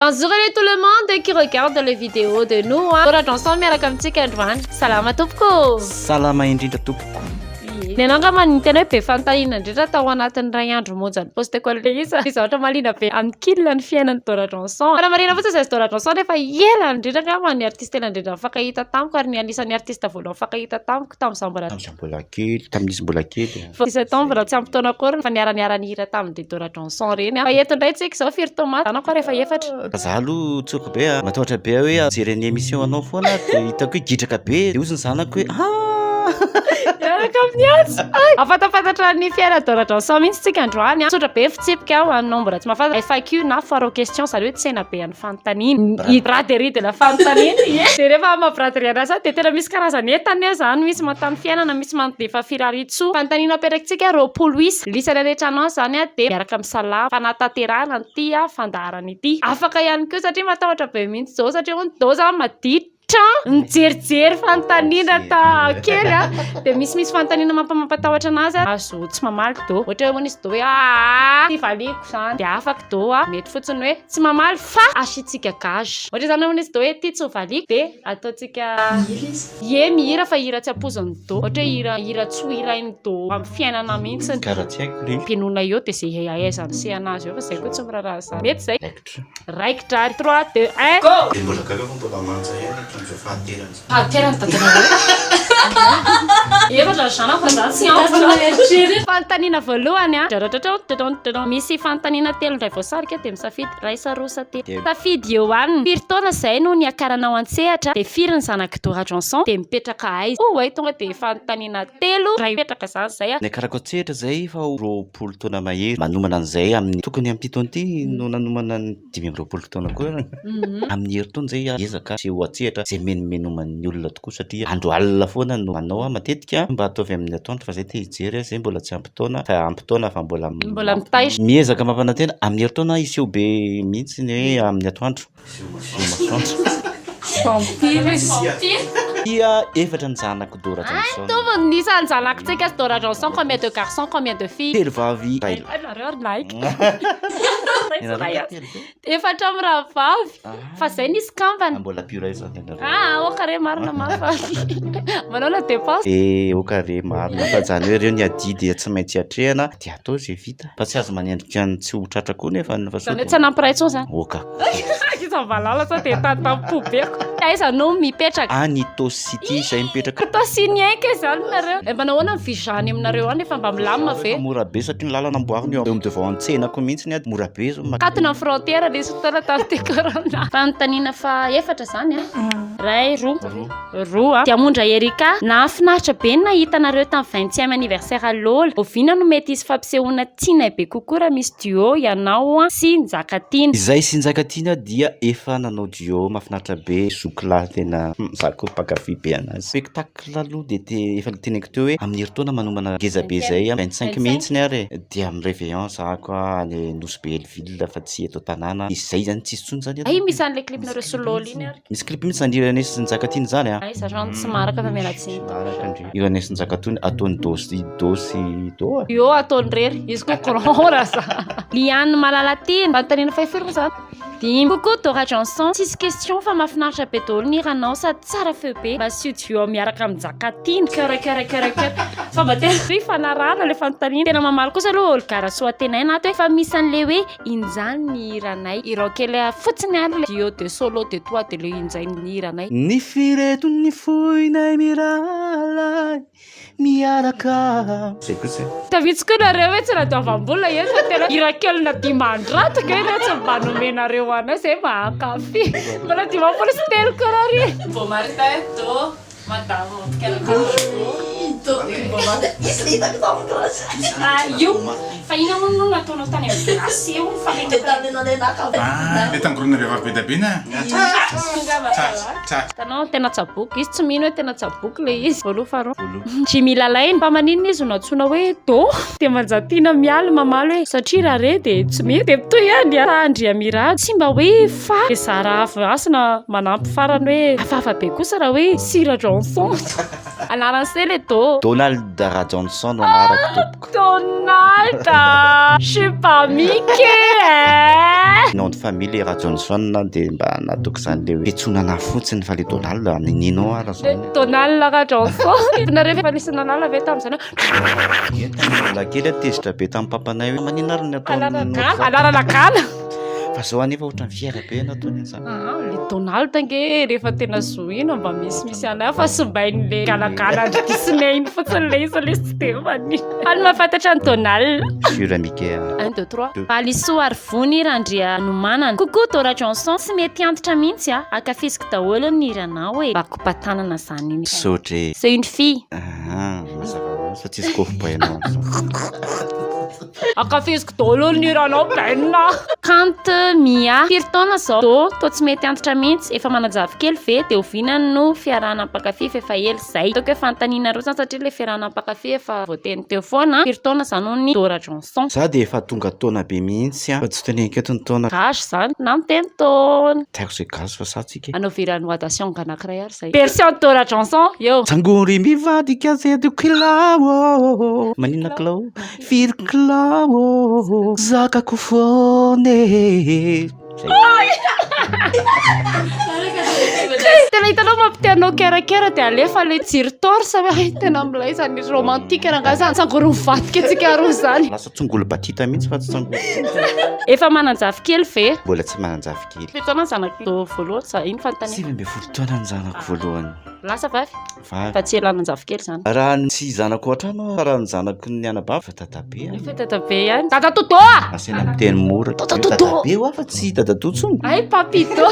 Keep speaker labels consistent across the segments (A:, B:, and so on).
A: Bonjour anie tout le monde qui regarde les vidéos de nous a Dora Johnson miaraka amintsika androany Salama tompoko ô Salama indrindra
B: tompoko Ny anao angamba
A: ny tena hoe be fanontaniana indrindra tao anatin'ny iray andro monja ny poste ko le izy Ny zavatra mahaliana be an'i Kil ny fiainan'i Dora Johnson Fa raha marihina fotsiny izay Dora Johnson efa ela indrindra angamba ny artiste tena indrindra nifankahita tamiko ary ny anisan'ny artiste voalohany nifankahita tamiko tamin'izaho mbola Tamin'izaho mbola kely, tamin'izy mbola
B: kely. Vao izy tao mbola tsy ampy
A: taona akory fa niara niara nihira tamin'i Dedora Johnson reny aho. Fa eto indray tsika izao firy taona maty zanako ary efa efatra. Fa za aloha tsoriko
B: be a, matahotra be aho hoe hijery ny émission anao foana aho dia hitako hoe gidraka be dia hozy ny zanako hoe haa. Miaraka amin'ny azy. Hay! Hahafantafatatra ny
A: fiainan'i Dora Johnson mihitsy tsika androany. Tsotra be ny fitsipika ho anao mbola tsy mahafantatra, FAQ na foire aux questions izany hoe tsena be an'ny. fanontaniana. Ny braderie de la fanontaniana ie. Dia rehefa amin'ny maha braderie anazy ahy dia tena misy karazany entana eo izany, misy manontany fiainana, misy manontany efa firariantsoa. Fanontaniana apetrakintsika roapolo isa. Ny isany rehetra anao izany dia miaraka amin'ny salamo, fanatanterahana an'ity fandaharana ity. Afaka ihany koa satria matahotra be mihitsy izao satria hono izao izany maditra. tra nijerijery fanontaniana ta kely a dia misy misy fanontaniana mampamampatahotra anazy a azo tsy mamaly do ohatra hoe hono izy do hoe aa ty valiako zany dia afaka do a mety fotsiny hoe tsy mamaly fa asiantsika gage ohatra zany hono izy do hoe ty tsy ho valiako dia ataontsika mihira izy ie mihira fa hira tsy ampoizin'ny do ohatra hoe hira hira tsy ho hirain'ny do amin'ny fiainana mihitsy ny karaha tsy haiko ry
B: mpinona eo dia ze
A: ahaizany sehana azy eo fa zay koa tsy miraharaha zany mety zay Raikitra ary trois deux un go! Dia mbola gaga fa mbola
B: manja ihany ny
A: trondro fahaterany. Fahaterany dadanareo. Efatra ry zanako fa za tsy antitra. Fanontaniana voalohany a. Dradradradrao dodondodon. Misy fanontaniana telo indray voasarika dia misafidy iray sa roa sa telo. Safidy eo aminy. Firy taona izay no niakaranao an-tsehatra dia firy ny zanak'i Dora Johnson dia mipetraka aiza. Oay tonga dia fanontaniana telo iray mipetraka izany izay a. Niakarako an-tsehatra izay
B: efa ho roapolo folo taona mahery manomana an'izay amin'ny tokony amin'ity taona ity no nanomana ny dimy amby roapolo taona koa ianao amin'ny herintaona izay hiezaka aseho an-tsehatra izay mimenomenomany olona tokoa satria andro alina foana no manao aho matetika mba ataovy amin'ny atoandro fa izay te hijery aho izay mbola tsy ampy taona fa ampy taona fa mbola mbola mitaitra miezaka
A: mampanantena
B: amin'ny herintaona hiseho be mihitsy ny hoe amin'ny atoandro Dia efatra ny zanako Dora Johnson. Mitovy ny isan'ny zanak'tsika
A: sy Dora Johnson, combien de garçons, combien de filles? Telo vavy iray
B: lahy. Ianareo ary
A: lahy. Efatra mirahavavy, fa zay ny izy kambana. Mbola pure izany ianareo.
B: Ah, aoka re marina
A: ma fa manao la dépense. Eh, aoka re
B: marina fa zany hoe reo ny adidy tsy maintsy atrehana. Dia atao izay vita. Fa tsy azo manendrika ny tsy ho tratra koa nefa ny fasoa. Izany hoe tsy hanampiray intsony
A: izany. Oka.
B: Iza valala
A: sao dia tany tamim-pobeko. Aiza no mipetraka? Any Itaosy City
B: izay mipetraka. Itaosy niainga izany
A: nareo. Eh mpanao ahoana ny visa any aminareo any efa mba milamina ve? Efa mora be satria ny lalana
B: amboarina eo amin'ny devant ny tsenako mihitsy ary mora be izao ny makany. Katona ny frontière
A: nisy fotoana tamin'ity corona. Fanontaniana faha efatra izany an. Iray, roa. Roa, Diamondra Erika, nahafinaritra be ny nahita anareo tamin'ny vingtième anniversaire Lola, oviana no mety hisy fampisehoana tianay be kokoa raha misy duo ianao sy Njakatiana. Izahay sy Njakatiana
B: dia efa nanao duo mahafinaritra be zoky lahy tena za ko mpankafy be anazy. Spectacle aloha dia te efa noteneniko teo hoe amin'ny herintaona manomana ngeza be izay amin'ny vingt cinq mihitsiny ary e dia amin'ny reveillon za ko any Nosy Be Hellville fa tsy eto an-tanàna dia izay izany tsisy intsony izany eto. Hay misy an'ilay clip-nareo sy
A: Lola iny ary. Misy clip mihitsy zany hiran'i Sy
B: Njakatiana zany a. Aiza zany tsy maraka fa
A: miala tsiny. Maraka ndry. Hiran'i Sy
B: Njakatiana ataony do sy do sy do a. Io ataony rery,
A: izy koa grand ra za. Lianne Malalatia, manontaniana fahafiry moa zany? Dimy. Coucou Dora Johnson, tsisy question fa mahafinaritra be daholo ny hiranao sady tsara feo be, mba asio duo miaraka amin'i Njakatiana. Coeur coeur coeur coeur. Fa mba tena ifanarahana le fanontaniana. Tena mamaly kosa aloha Olga Rasoatenaina ato hoe fa misy an'le hoe. Injany ny hiranay. Irao kely fotsiny ary le duo de solo de toi de le injay ny hiranay. Ny fireto
B: ny foinay mirahalahy miaraka. Zay koa tsy. Tavitsy koa nareo hoe tsy
A: radiovambola eny fa tena hira kelina dimandrato kay nareo tsy mba nomenareo anay zay mahankafy mbola dimampolo sy telo koa nareo. Vao maritahy
C: do Madama
A: ao fa ina moa no nataonao tany amin'ny Grace eo
D: ilay tangorona vehivavy be dia be na
A: hitanao tena tsaboiko izy tsy mino hoe tena tsaboiko ilay izy voaloha faharoa Jimmy Lalaine mba maninona izy no nantsoina hoe Do dia Manjatiana mialy mamaly hoe satria raha re dia tsy mety dia mitohy ihany Andriamirado tsy mba hoe Fa zara avy hasina manampy farany hoe hafahafa be kosa raha hoe Sira Johnson no anarany se le do. Donald Rajohnson
B: no anarako tompoko. Donald
A: a! Je suis pas Mickey eh! Nom de famille le Rajohnson
B: dia mba natoky izany le hoe fitsonana fotsiny fa le Donald a ninino ara zany. Le Donald Rajohnson.
A: Hitanareo ve fa nisy nanala ve tamin'izany hoe. Izahay tamin'ny
B: mbola kely a tezitra be tamin'ny papanay hoe maninona ary ny ataon'ny. Anarana gala, anarana gala.
A: fa zao
B: anefa ohatrany fihaila be ianao tony aza ah, le donald
A: ange rehefa tena zohina mba misy misy anay fa sombain'le galagala andry disney iny fotsiny le izy le tsy de fany any mahafantatra ny donald sur mike
B: un deux trois
A: valisoa ary vony randria nomanana coucou dora johnson tsy mety antitra mihitsy a ah. akafiziko daholo ny hiranao e eh. bakopatanana zany iny sotre c'est une fille
B: ah,
A: mazava
B: satria zikofo bainao
A: Ankafiziko daholo ny hiranao Ben a. Kant Mia, firy taona zao? Do, toa tsy mety antitra mintsy, efa manajavy kely ve? De oviana no fiarahana mpankafy f'efa ela zay? Ataoko hoe fanontaniana rotsany satria ilay fiarahana mpankafy efa voateny teo foana an! Firy taona zany hono ny Do Rajonson? Za dia efa tonga
B: taona be mihitsy an! Fa tsy toneniko eto ny taona. Gasy zany na miteny
A: taona? Tsy haiko zay gasy fa sahy
B: tsika e! Anaovy hira Noadation
A: anankiray ary zay. Version Do Rajonson eo! Tsangory mivadika
B: zedokilao oh oh oh oh Maninona kilao? Firy kilao ô zakako foana
A: e. Tena hitanao mampitia anao kera kera dia alefa ilay jiro torche hoe hay tena milay izany romantique rangahy izany tsangory mivadika antsika roa izany. Lasa tsongoly batita
B: mihitsy fa tsy tsongoly. Efa
A: manan-javy kely ve? Mbola tsy manan-javy
B: kely. Firy taona ny zanako
A: voalohany za? Iny fanontaniako. Sivy ambin'ny folo taona ny zanako
B: voalohany. Lasa vavy?
A: vavy. Fa tsy elan'ny
B: anjafikely
A: zany. Raha ny tsy zanako ao
B: an-trano aho, fa raha ny zanaky ny anabavy fa dadabe aho. Efa dadabe ihany.
A: Dadatodo a! Asaina miteny mora.
B: Dadatodo! Dadabe ho aho fa tsy dadatoa intsony. Hay papito!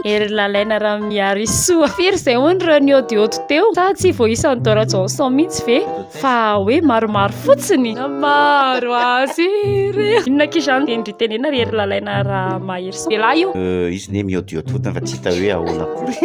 A: Hery lalaina Ramiarisoa. Firy izay hono ireo niôdiôdy teo? Sa tsy voaisany Dora Johnson mihitsy ve? Fa hoe maromaro fotsiny. Maro azy ireo. Inona akia izany teny ry tenena ry hery lalaina raha mahery saina. Lehilahy io. Euh, izy ne miodiody
B: fotsiny fa tsy hita hoe ahoana akory.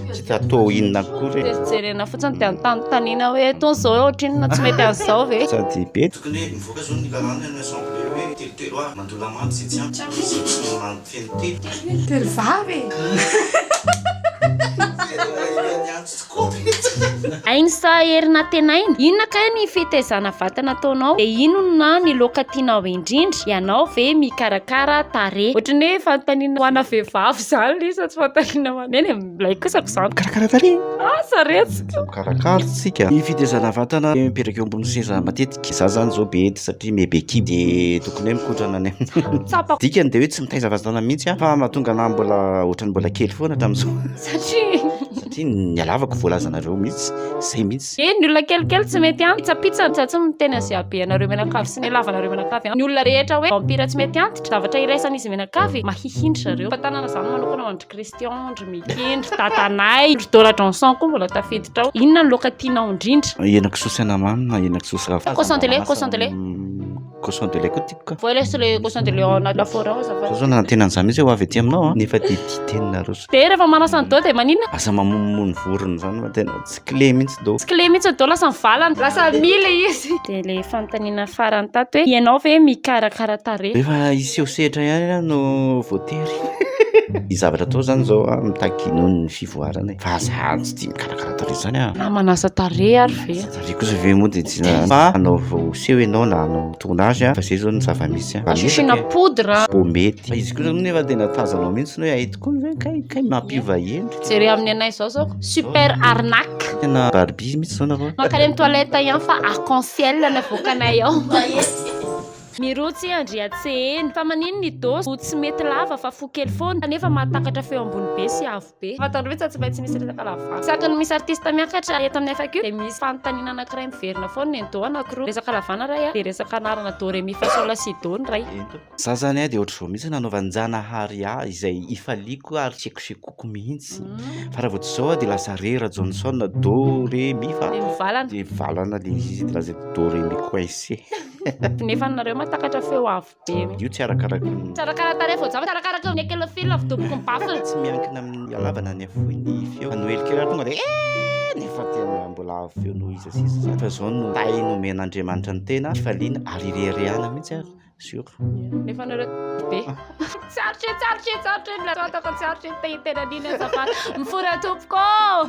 B: Tsy hita atao inona akory. Dia jerena fotsiny dia
A: anontanintaniana hoe itony izao ohatrinona tsy mety an'izao ve? Sady be. Tokony hoe
D: mivoaka zao ny lalàna ny assemblée hoe telo telo avy mandoa lamandy
C: izay tsy ampy tsy misy izay tsy mifehy telo. Telo
A: vavy e! Tsy complet. Ainy sa hery natenaina? Inona kay ny fitaizana vatana ataonao? De inona ny loaka tianao indrindra? Ianao ve mikarakara tarehy? Ohatran'ny hoe fanontaniana ho ana vehivavy zany le izy fa tsy fanontaniana ho anay de milay kosa ko zany. Mikarakara tarehy? Ah
B: saretsiko.
A: Mikarakara
B: tsika. Ny fitaizana vatana dia mipetraka eo ambony seza matetika. Za zany zao be hery satria me bekidy de tokony hoe mikotrana ny Tsapako. Dikany de
A: hoe tsy mitaiza
B: vatana mihitsy aho fa mahatonga anah mbola ohatran'ny mbola kely foana hatramin'izao. Satria.
A: Satria nialavako
B: voalazanareo mihitsy zay mihitsy. Eny ny olona kelikely tsy
A: mety antitra pizza ny tsatsy miteny azy aby anareo menakavy sy ny lavanareo menakavy ny olona rehetra hoe vampira tsy mety antitra zavatra iraisana izy menakavy mahihiny zareo fa tanana zany manokana ho andry Christian ndry Micky ndry dadanay ndry Dora Johnson koa mbola tafiditra ao inona ny loka tianao indrindra henakisoa sy anamamy
B: na henakisoa sy ravin-kazo cochon de lait cochon de lait
A: Cochon de
B: lait koa tiako ka. Voy lesy le cochon de lait ao
A: anaty lafaoro ao azafady. Zao zao nanantena an'izany mihitsy ho avy
B: aty aminao an. Nefa dia didinina roso. Dia rehefa manasa ny doha dia
A: maninona? Lasa mamonomono
B: vorona izany fa tena tsy kle mihitsy doha. Tsy kle mihitsy ny doha lasa
A: mivalana. Lasa mi le izy. Dia le fanontaniana farany tato hoe ianao ve mikarakara tarehy? Rehefa hiseho sehatra
B: ihany aho no voatery. Ny zavatra atao izany izao an, mitaky noho ny fivoarana e. Fa za tsy tia mikarakara tarehy izany an. Na manasa tarehy
A: ary ve? Ry kosa ve moa dia
B: tsy na fa anaovao seho ianao na hanao tournage fa izay izao no zava-misy an. Asiana poudre a.
A: Vao mety. Fa izy kosa
B: moa nefa tena tazanao mihitsy ny hoe hay tokoa ny hoe kay kay mampiova endrika. Jereo amin'ny anay izao
A: izao super arnaque. Tena Barbie mihitsy
B: izao nareo. Mankany amin'ny toilette ihany
A: fa arc en ciel no avoakanay ao. Mirotsy Andriatseheno. Fa maninona i Doss no tsy mety lava fa fo kely foana kanefa mahatakatra feo ambony be sy avo. be. Fantany rohy tsa tsy maintsy misy resaka lava vary. Isaky ny misy artista miakatra eto amin'ny FAQ dia misy fanontaniana anankiray miverina foana ny do anankiroa. Resaka lavana iray dia resaka anarana do re mi fa sol la si do ny iray. Za zany dia
B: ohatr'izao mihitsy nanaovan-janahary ahy izay ifaliako ary tsekosekoko mihitsy fa raha vao tsy izao aho dia lasa re ra Johnson do re mi fa Dia mivalana. dia mivalana
A: ilay
B: izy dia lasa do re mi coincé. Nefa
A: nareo mahatakatra feo avo. Io tsy arakaraky ny.
B: Tsy arakaraky ny tarehy vao
A: java, tsy arakaraky ny ekelo fil avy doboko ny baffle. Tsy miankina amin'ny
B: halavana ny hafoy ny feo. Noely kely raha tonga dia eh nefa tena mbola avo feo noho iza sy iza izany. Fa izao no tahy nomen'Andriamanitra ny tena, fifaliana ary ireharehana mihitsy ary sur. Nefa
A: nareo be. Tsarotra e, tsarotra e, tsarotra e, milatao ataoko tsarotra e, te tena nina azafady. Mifora tompoko.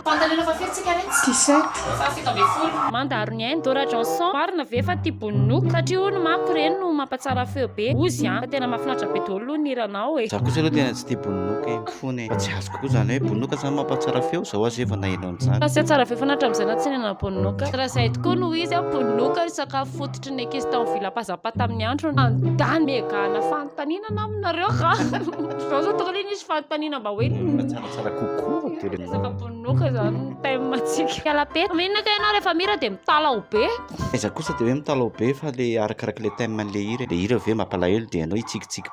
A: Pantaleona
C: fahafiry tsika
E: re? T-shirt. Fahafito
C: ambin'ny folo. Mandaro ny ainy Dora
A: Johnson. Marina ve fa tia boninoko? Satria hono manko ireny no mampatsara feo be. Ozy an! Fa tena mahafinaritra be dolo aloha ny hiranao e. Za kosa aloha tena tsy tia
B: bononoka e, mifona e. Fa tsy azoko koa zany hoe bononoka zany mampatsara feo? Zao aza efa naheno an'izany. Fa tsy hahatsara feo foana hatramin'izay
A: na tsy hihinana bononoka. Raha izay tokoa no izy an, bononoka io sakafo fototra. Ohatry ny ekisy tao vila pazapa tamin'ny andro nandany megana fanontaniana na aminareo ka zao zao tokony nisy fanontaniana mba hoe tsaratsara kokoa
B: dia resaka bononoka
A: izany ny thème atsika kalapeta mena ka ianao rehefa mira dia mitalaho be iza kosa dia hoe
B: mitalaho be fa le arakarak'ilay thème an'ilay hira ilay hira ve mampalahelo dia ianao hitsikitsiky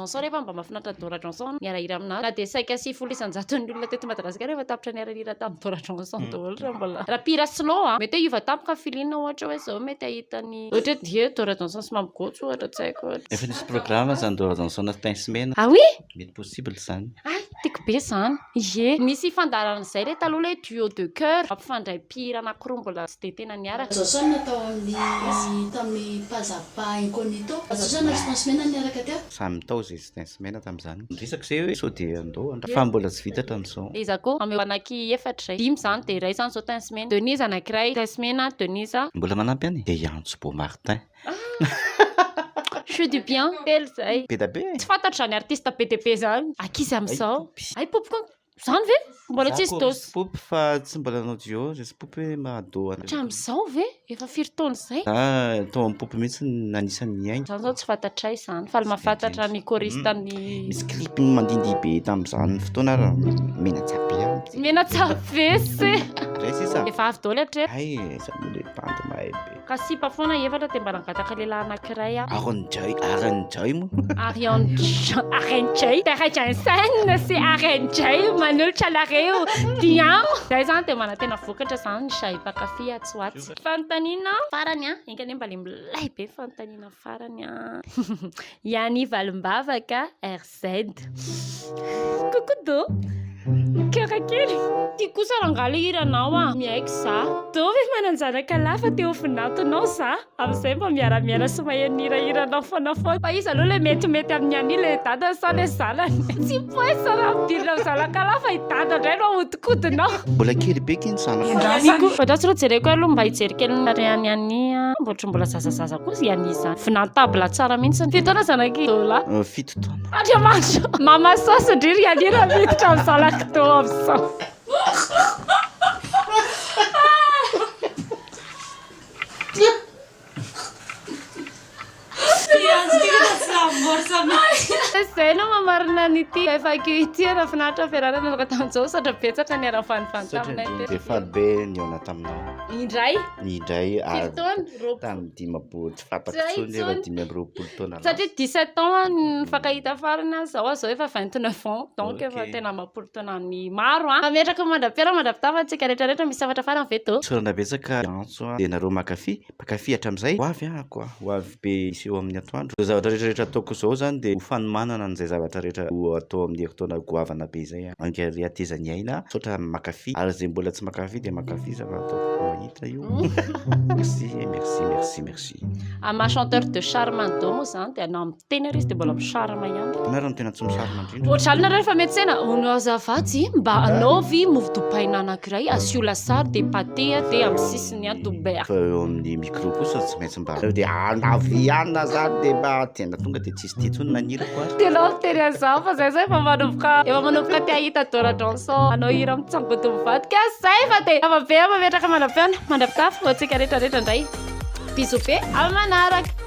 A: Johnson rehefa mba mahafinaritra an'i Dora Johnson ny hiarahira amin'azy na dia saika sivifolo isan-jaton'ny olona teto Madagasikara efa tapitra niara nihira tamin'i Dora Johnson daholo raha mbola raha mpihira slow an! Mety hoe hiova tampoka ny feeling ohatra hoe izao mety hahita ny ohatra hoe dihy Dora Johnson sy Mamy Gojo ohatra tsy haiko ohatra. Efa nisy programme
B: zany Dora Johnson sy Tince Mena. Ah oui? Mety
A: possible zany.
B: Ay! Tiako be izany.
A: Ie. Nisy fandaharana izay re taloha ilay duo de coeur mampifandray mpihira anankiroa mbola tsy dia tena niaraka. Jason natao amin'ny
E: tamin'ny Pazapa Incognito. Jason na Response Mena niaraka teo. Samy nitao izay Response
B: Mena tamin'izany. Niresaka izay hoe sao dia andao handray. Fa mbola tsy vita hatramin'izao. Iza koa? Ameo anaky
A: efatra izay. Dimy izany dia iray izany izao Tens Mena. Denise anakiray. Tens Mena, Denise. Mbola manampy any dia i
B: Antso Bo Martin.
A: Chou du bien telo zay. Be da be. Tsy fantatro
B: zany artiste
A: be de be zany. Akizy amizao. Ay poopy ko. Zany ve? Mbola tsy nisy dose. Poopy fa tsy mbola
B: nanao duo zay sy poopy hoe maha duo anareo. Hatramizao ve?
A: Efa firy taona zay? Za tao am poopy
B: mihitsy no anisany nihaino. Zany zao tsy fantatray
A: zany fa mahafantatra ny choriste ny. Misy clip
B: mandindihy be tamizany fotoana ra menatsaha be an. Menatsaha
A: be se. Ray sisa.
B: Efa avy daoly hatreto.
A: Ay zany le
B: bandy mahay be. Ka sipa foana efatra
A: dia mba nangataka lehilahy anankiray aho. Aaron Jay, Aaron Jay
B: moa. Arian Aaron Jay,
A: Père Jensen sy Aaron Jay manolotra anareo Diam. Zay zany dia manantena vokatra zany ny Jay mpankafy atsy ho atsy. Fanontaniana farany an, enga anie mba le milay be fanontaniana farany an. Yanni Valimbavaka RC. Z. Coucou Do. Coeur kely. Ty kosa rangahy le hiranao a. Miaiky za. Do ve manan-janaka lahy fa te ho vinantonao za. Amin'izay mba miara miaina sy maheno ny hirahiranao foana foana. Fa iza aloha le metimety amin'i Annie, le dadany sa le zanany? Tsy poinsa raha midirina amin'ny zanaka lahy fa i dadany indray no ahontona. kodinao. Mbola kely be ky
B: ny zanako. Endrasany. Fandraso ro jereko
A: aloha mba hijery kely ny tarehan'i Annie an. Mba ohatry ny mbola zazazaza koa i Annie zany. Vinantable tsara mihitsy ny. Firy taona zanak'i Dola? Fito taona.
B: Andriamanitra. Mama
A: sasy ndry ry Annie raha miditra amin'ny zanak'i Do amin'izao. Zay no maha marina an'ity FAQ ity. Raha finaritra ny fiarahana nanaovako tamin'izao satria betsaka ny niara-nifanivaly taminay teto. Dia faly be ny
B: nihaona taminao. Indray.
A: Indray ary
B: tamin'ny
A: dimampolo,
B: tsy fantako intsony hoe efa dimy amby roapolo taona lasa. Satria dix sept ans
A: no nifankahita farany aho zao, zao efa vingt neuf ans, donc efa tena amam-polo taona maro an! Fa metraka mandra-piara mandra-pitafa antsika rehetra rehetra, misy hafatra farany ve tô? Tsorana betsaka.
B: Soa dia nareo makafy, mpakafy hatramizay, ho avy ako a, ho avy be hiseho amin'ny atoandro. Izao zavatra rehetra rehetra ataoko izao zany dia ho fanomanana an'izay zavatra rehetra ho atao amin'ny herintaona goavana be izay a. Mangary hatezan'ny aina a, misaotra makafy, ary izay mbola tsy makafy dia makafy zava ataoko hita io. Merci merci merci merci. Ama chanteur
A: de charme any Domo zany de anao Teny ary izy dia mbola misarama ihany. Ianareo no tena tsy misarama
B: indrindra. Ohatrany nareo rehefa miantsena,
A: hono azafady mba anaovy mofo dopaina anankiray asio lasary dia pate dia amin'ny sisiny an dober. Fa eo amin'ny micro
B: kosa tsy maintsy mba nareo dia anavy ihany na zany dia mba tena tonga dia tsisy dia intsony nanirako ary. Tena avy tery azaho
A: fa zay zay efa manomboka efa manomboka te hahita Dora Johnson hanao hira mitsangodo mivadika aho zay fa dia zava-be aho mametraka manam-peona mandra-pitafy ho antsika rehetra rehetra indray. Bisous be amin'ny manaraka.